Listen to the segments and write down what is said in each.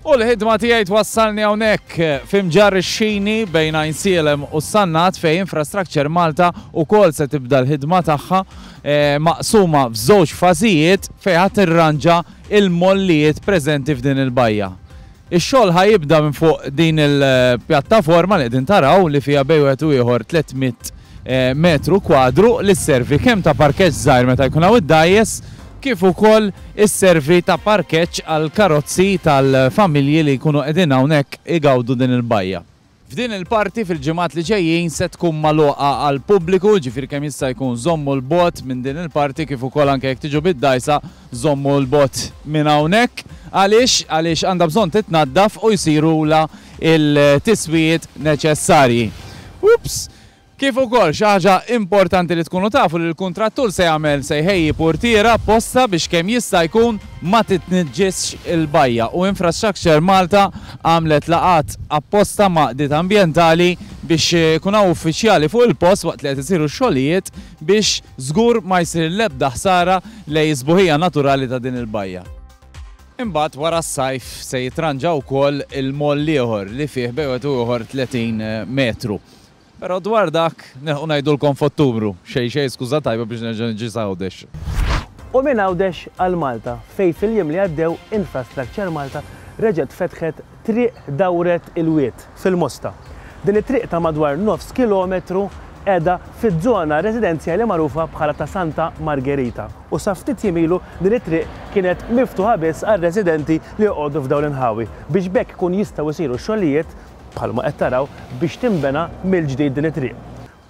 U l-ħidma tiegħi twassalni hawnhekk f'imġar ix-xini bejn Għajnsielem u s-Sannat fejn Infrastructure Malta wkoll se tibda l-ħidma tagħha eh, maqsuma f'żewġ fażijiet fejn ħadd irranġa il-mollijiet preżenti f'din il-bajja. Ix-xogħol ħa jibda minn fuq din il-pjattaforma li qegħdin taraw li fiha bejn wieħed u ieħor 300 metru kwadru li sservi kemm ta' parkeġġ żgħir meta jkun hawn id-dgħajjes kif ukoll isservi ta' parkeġġ għall-karozzi tal-familji li jkunu qegħdin hawnhekk igawdu din il-bajja. F'din il-parti fil-ġimgħat li ġejjin se tkun magħluqa għall-pubbliku, ġifieri kemm jista' jkun żommu 'l bogħod minn din il-parti kif ukoll anke jekk tiġu bid-dgħajsa żommu 'l bogħod minn hawnhekk. Għaliex? Għaliex għandha bżonn titnaddaf u jsirulha l-tiswijiet neċessarji. Oops! Kif ukoll, xi ħaġa importanti li tkunu tafu li l-kuntrattur se jagħmel se jħejji purtiera apposta biex kemm jista' jkun ma titniġġisx il-bajja u Infrastructure Malta għamlet laqgħat apposta ma' qdiet ambjentali biex ikun hawn uffiċjali fuq il-post waqt li qed isiru x-xogħlijiet biex żgur ma jsir l-ebda ħsara lejn is-sbuħija naturali ta' din il-bajja. Imbagħad wara s-sajf se jitranġa wkoll il-moll ieħor li fih bejwet u ieħor 30 metru. Però dwar dak nilħqu ngħidulkom f'Ottubru. Xejn xejn skuża tajba biex nerġa' niġi s'Għawdex. U minn Għawdex għal Malta, fejn fil-jiem li għaddew Infrastructure Malta reġgħet fetħet triq Dawret il-Wied fil-Mosta. Din it-triq ta' madwar nofs kilometru qiegħda fiż-żona residenzjali magħrufa bħala ta' Santa Margerita u sa ftit jiem ilu din it-triq kienet miftuħa biss għar-residenti li joqogħdu f'dawn l-inħawi biex b'hekk ikun jistgħu jsiru x-xogħlijiet bħalma qed taraw, biex tinbena mill-ġdid din it-triq.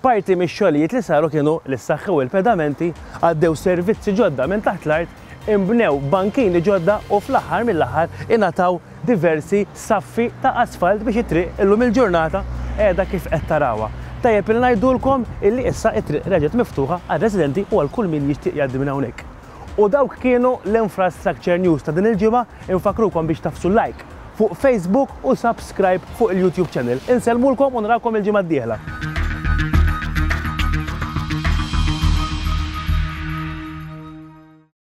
Parti mix-xogħlijiet li saru kienu li ssaħħew il-pedamenti, għaddew servizzi ġodda minn taħt l-art, inbnew bankini ġodda u fl-aħħar mill-aħħar ingħataw diversi saffi ta' asfalt biex it-triq illum il-ġurnata qiegħda kif qed tarawha. Tajjeb li ngħidulkom illi issa t-triq reġgħet miftuħa għar-residenti u għal kull min jixtieq jgħaddi minn hawnhekk. U dawk kienu l-Infrastructure News ta' din il-ġimgħa, infakkrukom biex tagħfsu like fuq Facebook u subscribe fuq il-YouTube channel. Insellmulkom u nrawkom il-ġimgħa d-dieħla.